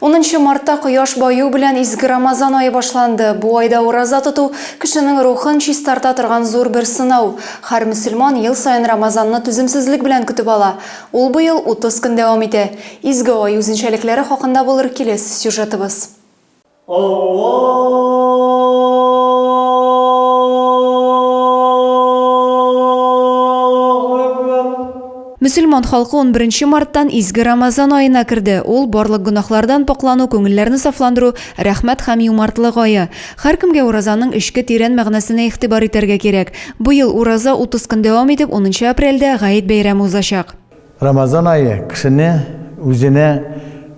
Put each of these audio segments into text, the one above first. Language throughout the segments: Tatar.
Унынчы мартта кояш баю белән изге Рамазан ае башланды. Бу айда ураза тоту, кешенең рухын чистарта торган зур бер сынау. Хәр мөселман ел саен Рамазанны түземсезлек белән көтеп ала. Ул быел утыз көн дәвам итә. Изге ай үзенчәлекләре хакында булыр килес сюжетыбыз. Аллаһу Әкбәр! Мөселман халкы унберенче марттан изге Рамазан аена керде. Ул, барлык гөнаһлардан пакълану, күңелләрне сафландыру, рәхмәт һәм юмартлык ае. Һәркемгә уразаның эчке тирән мәгънәсенә игътибар итәргә кирәк. Быел ураза утыз көн дәвам итеп, унынчы апрельдә Гает бәйрәме узачак. Рамазан ае кешене үзенә,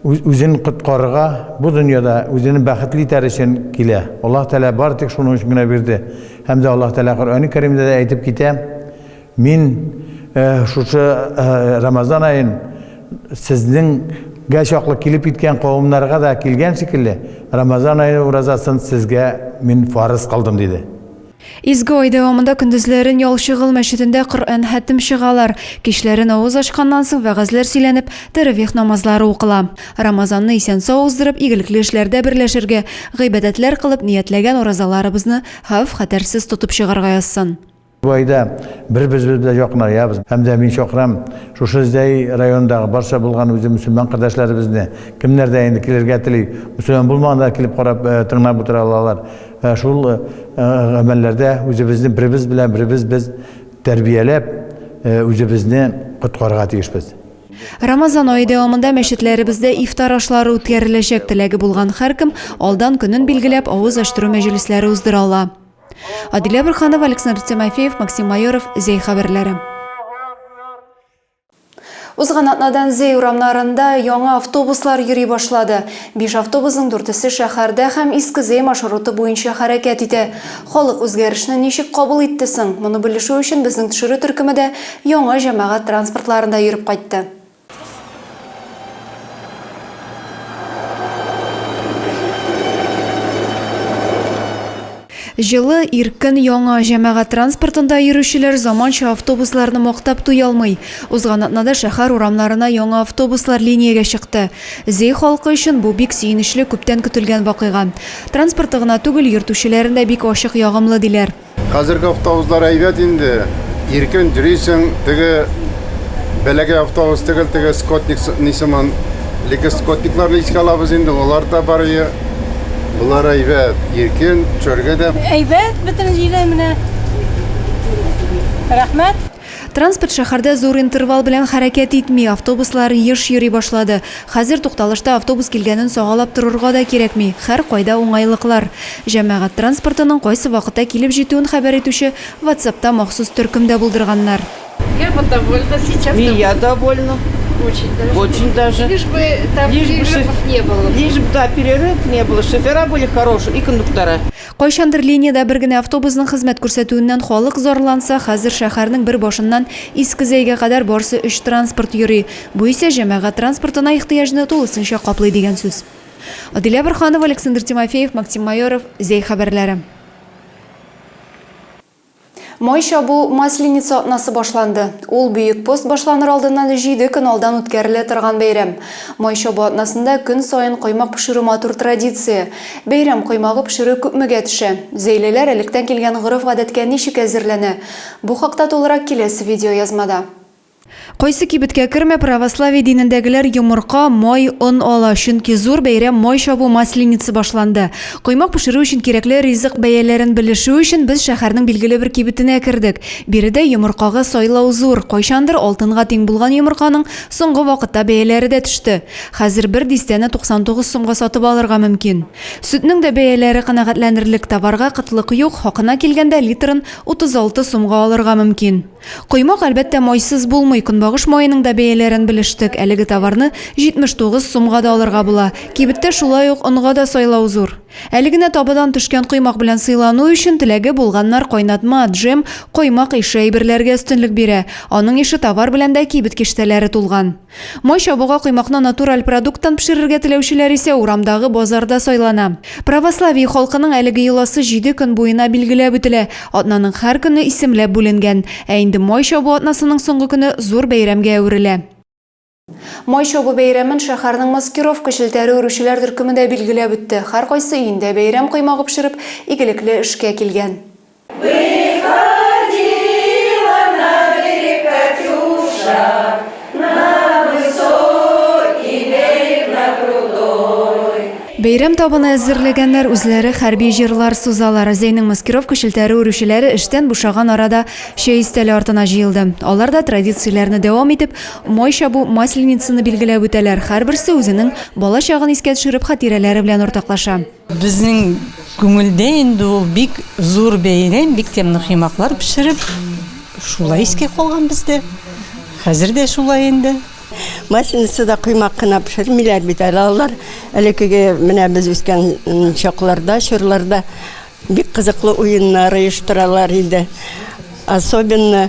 үзен коткарырга, бу дөньяда үзен бәхетле итәр өчен килә. Аллаһ Тәгалә бары тик шуның өчен генә бирде. Һәм дә Аллаһ Тәгалә Коръәни Кәримдә дә әйтеп китә, Мин шушы Рамазан аен сезнеңгә чаклы килеп иткән кавымнарга да килгән шикелле, Рамазан ае уразасын сезгә мин фарыз кылдым, диде. Изге ай дәвамында көндезләрен Ялчыгыл мәчетендә Коръән хәтем чыгалар, кичләрен авыз ачканнан соң вәгазьләр сөйләнеп, тәравих намазлары укыла. Рамазанны исән-сау уздырып, игелекле эшләрдә берләшергә, гыйбадәтләр кылып, ниятләгән уразаларыбызны хәвеф-хәтәрсез тотып чыгарга язсын. Бу айда бер-беребез белән якынаябыз һәм дә мин чакырам шушы Зәй районындагы барча булган үзе мөселман кардәшләребезне, кемнәр дә инде килергә тели, мөселман булмаган да килеп карап, тыңлап утыра алалар. Ә шул гамәлләрдә үзебезне беребез белән беребез без тәрбияләп, үзебезне коткарырга тиешбез. Рамазан ае дәвамында мәчетләребездә ифтар ашлары үткәреләчәк, теләге булган һәркем алдан көнен билгеләп, авыз ачтыру мәҗлесләре уздыра ала. Адилә Борханова, Александр Тимофеев, Максим Майоров, Зәй хәбәрләре. Узган атнадан Зөй урамнарында яңа автобуслар йөри башлады. Биш автобусның дүртесе шәһәрдә һәм Иске Зөй маршруты буенча хәрәкәт итә. Халык үзгәрешне ничек кабул итте соң? Моны белешү өчен безнең төшерү төркеме дә яңа җәмәгать транспортларында йөреп кайтты. Җылы, иркен, яңа җәмәгать транспортында йөрүчеләр заманча автобусларны мактап туялмый. Узган атнада шәһәр урамнарына яңа автобуслар линиягә чыкты. Зөй халкы өчен бу бик сөенечле, күптән көтелгән вакыйга. Транспорты гына түгел, йөртүчеләре дә бик ачык, ягымлы, диләр. Хәзерге автобуслар әйбәт инде, иркен йөрисең, теге бәләкәй автобус түгел, теге скотник ни сыман, ликс скотникларны искә алабыз инде, алар да бар. Болар әйбәт, иркен, төшәргә дә. Әйбәт, бөтен җиле менә. Рәхмәт. Транспорт шәһәрдә зур интервал белән хәрәкәт итми, автобуслар еш йөри башлады. Хәзер тукталышта автобус килгәнен сагалап торырга да кирәкми, һәркайда уңайлыклар. Җәмәгать транспортының кайсы вакытта килеп җитүен хәбәр итүче WhatsAppта махсус төркем дә булдырганнар. Я вот довольна сейчас. И я довольна. Очень даже. Очень даже. Лишь бы там Лишь бы перерывов шоф- не было. Лишь бы, да, перерыв не было, шофера были хорошие и кондуктора. Кайчандыр линиядә бер генә автобусның хезмәт күрсәтүеннән халык зарланса, хәзер шәһәрнең бер башыннан Иске Зәйгә кадәр барсы өч транспорт йөри. Бу исә җәмәгать транспортына ихтыяҗны тулысынча каплый дигән сүз. Адилә Борханова, Александр Тимофеев, Максим Майоров, Зәй хәбәрләре. Май чабу, Масленица атнасы башланды. Ул Бөек пост башланыр алдыннан җиде көн алдан үткәрелә торган бәйрәм. Май чабу атнасында көн саен коймак пешерү матур традиция. Бәйрәм коймагы пешерү күпмегә төшә? Зәйлеләр электән килгән гореф-гадәткә ничек әзерләнә? Бу хакта тулырак киләсе видеоязмада. Кайсы кибеткә кермә, православие динендәгеләр йомырка, май, он ала, чөнки зур бәйрәм май чабу Масленица башланды. Коймак пешерү өчен кирәкле ризык бәяләрен белешү өчен без шәһәрнең билгеле бер кибетенә кердек. Биредә йомыркага сайлау зур, кайчандыр алтынга тиң булган йомырканың соңгы вакытта бәяләре дә төште. Хәзер бер дистәне 99 сумга сатып алырга мөмкин. Сөтнең дә бәяләре канәгатьләнерлек, товарга кытлык юк, хакына килгәндә литрын 36 сумга алырга мөмкин. Коймак, әлбәттә, майсыз булмый. Көнбагыш маеның да бәяләрен белештек. Әлеге товарны 79 сумга да алырга була. Кибеттә шулай ук онга да сайлау зур. Әле генә табадан төшкән коймак белән сыйлану өчен теләге булганнар кайнатма, джем, коймак ише әйберләргә өстенлек бирә. Аның ише товар белән дә кибет киштәләре тулган. Май чабуга коймакны натураль продукттан пешерергә теләүчеләр исә урамдагы базарда сайлана. Православие халкының әлеге йоласы җиде көн буена билгеләп үтелә, атнаның һәр көне исемләп бүленгән. Ә инде май чабу атнасының соңгы көне зур бәйрәмгә әверелә. Май чабу бәйрәмен шәһәрнең маскировка челтәре үрүчеләр төркеме дә билгеләп үтте, һәркайсы өендә бәйрәм коймагы пешереп, игелекле эшкә килгән. Бәйрәм табыны әзерләгәннәр, үзләре хәрби җырлар сузалар. Зәйнең маскировка челтәре үрүчеләре эштән бушаган арада чәй өстәле артына җыелды. Алар да традицияләрне дәвам итеп, май чабу, Масленицаны билгеләп үтәләр, һәрберсе үзенең бала чагын искә төшереп хатирәләре белән уртаклаша. Безнең күңелдә инде ул бик зур бәйрәм, бик тәмле коймаклар пешереп, шулай искә калган бездә. Хәзер дә шулай инде. Масленицада коймак кына пешермиләр бит әле алар. Элеккеге менә без үскән чакларда, чорларда бик кызыклы уеннар оештыралар иде. Особенно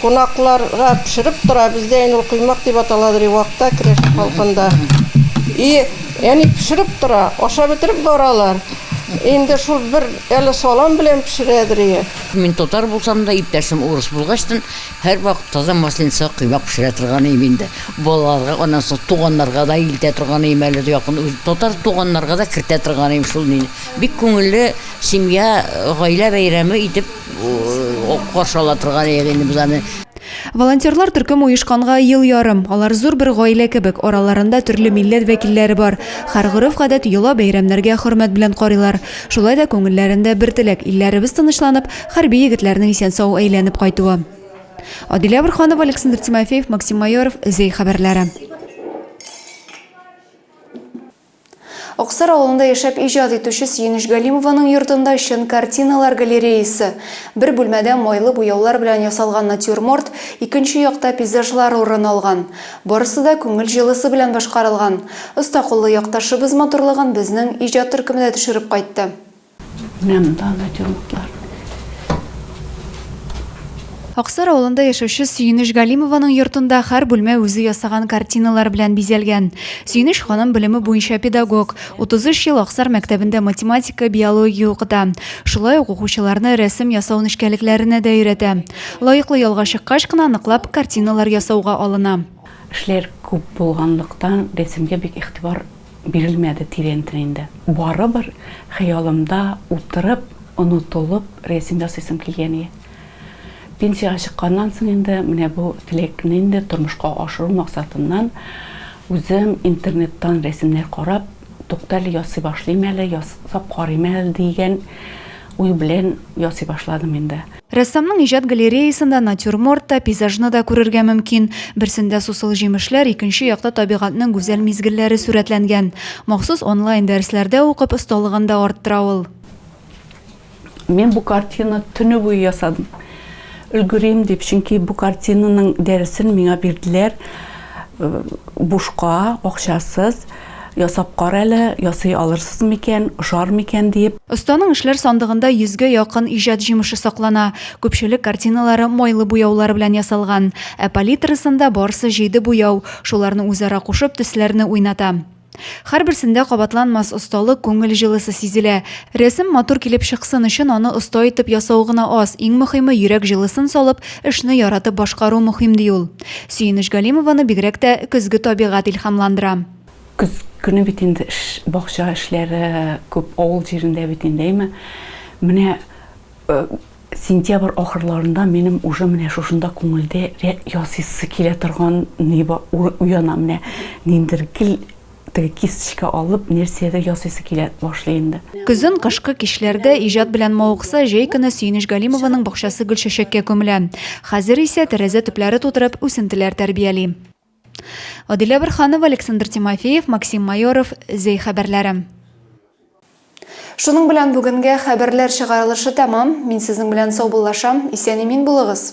Кунакларга пешереп тора, бездә инде ул коймак дип аталадыр, и вакта керәшен халкында. И әни пешереп тора, ашап бетереп баралар. Инде шул бер әле салам белән пешерәдер ие. Мин татар булсам да, иптәшем урыс булгачтын, һәрвакыт таза масленица коймак пешерә торган идем инде. Балаларга, аннан соң туганнарга да илтә торган идем, әле дә якын үз татар туганнарга да кертә торган идем шул мине. Бик күңелле семья, гаилә бәйрәме итеп. каршы ала торган идек инде без аны. Волонтерлар төркем оешканга ел ярым. Алар зур бер гаилә кебек, араларында төрле милләт вәкилләре бар. Хәр гореф-гадәт, йола, бәйрәмнәргә хөрмәт белән карыйлар. Шулай да күңелләрендә бер теләк, илләребез тынычланып, хәрби егетләрнең исән-сау әйләнеп кайтуы. Адилә Бурханова, Александр Тимофеев, Максим Майоров, Зәй хәбәрләре. Аксар авылында яшәп иҗат итүче Сөенеч Галимованың йортында чын картиналар галереясы. Бер бүлмәдә майлы буяулар белән ясалган натюрморт, икенче якта пейзажлар урын алган. Барысы да күңел җылысы белән башкарылган. Оста куллы якташыбыз матурлыгын безнең иҗат төркеме дә төшереп кайтты. Менә монда натюрмортлар. Аксар авылында яшәүче Сөенеш Галимованың йортында һәр бүлмә үзе ясаган картиналар белән бизәлгән. Сөенеш ханым белеме буенча педагог, 33 ел Аксар мәктәбендә математика, биология укыта. Шулай ук укучыларны рәсем ясау нечкәлекләренә дә өйрәтә. Лаеклы ялга чыккач кына ныклап картиналар ясауга алына. Эшләр күп булганлыктан, рәсемгә бик игътибар Бирелмәде тирәнтен инде. Барыбер хыялымда утырып, онытылып рәсем ясыйсым килгән ие. Пенсиягә чыкканнан соң инде менә бу теләкне инде тормышка ашыру максатыннан үзем интернеттан рәсемнәр карап, туктале, ясый башлыйм әле, ясап карыйм әле дигән уй белән ясый башладым инде. Рәссамның иҗат галереясында натюрморт та, пейзажны да күрергә мөмкин. Берсендә сусыл җимешләр, икенче якта табигатьнең гүзәл мизгелләре сурәтләнгән. Махсус онлайн дәресләрдә укып, осталыгын да арттыра ул. Мин бу картина төне буе ясадым. Өлгерим дип, чөнки бу картинаның дәресен миңа бирделәр бушка, акчасыз. Ясап кар әле, ясый алырсыз микән, ошар микән диеп. Останың эшләр сандыгында йөзгә якын иҗат җимеше саклана. Күпчелек картиналары майлы буяулар белән ясалган. Ә палитрасында барсы җиде буяу, шуларны үзара кушып, төсләрне уйната. Һәрберсендә кабатланмас осталык, күңел җылысы сизелә. Рәсем матур килеп чыксын өчен аны оста итеп ясау гына аз, иң мөхиме йөрәк җылысын салып, Эшне яратып башкару мөһим, ди ул. Сөенеч Галимованы бигрәк тә көзге табигать илһамландыра. Көз көне бит инде эш, бакча эшләре күп, авыл җирендә бит инде, әйме? Менә сентябрь ахырларында минем уже менә шушында күңелдә ясыйсы килә торган ни бар, уяна, менә ниндер гел. Теге кисточка алып, нәрсәдер ясыйсы килә башлый инде. Көзен, кышкы кичләрдә иҗат белән мавыкса, җәй көне Сөенеч Галимованың бакчасы гөлчәчәккә күмелә. Хәзер исә, тәрәзә төпләре тутырып, үсентеләр тәрбияли. Адилә Борһанова, Александр Тимофеев, Максим Майоров, Зәй хәбәрләре. Шуның белән бүгенгә хәбәрләр чыгарылышы тәмам. Мин сезнең белән саубуллашам. Исән-имин булыгыз!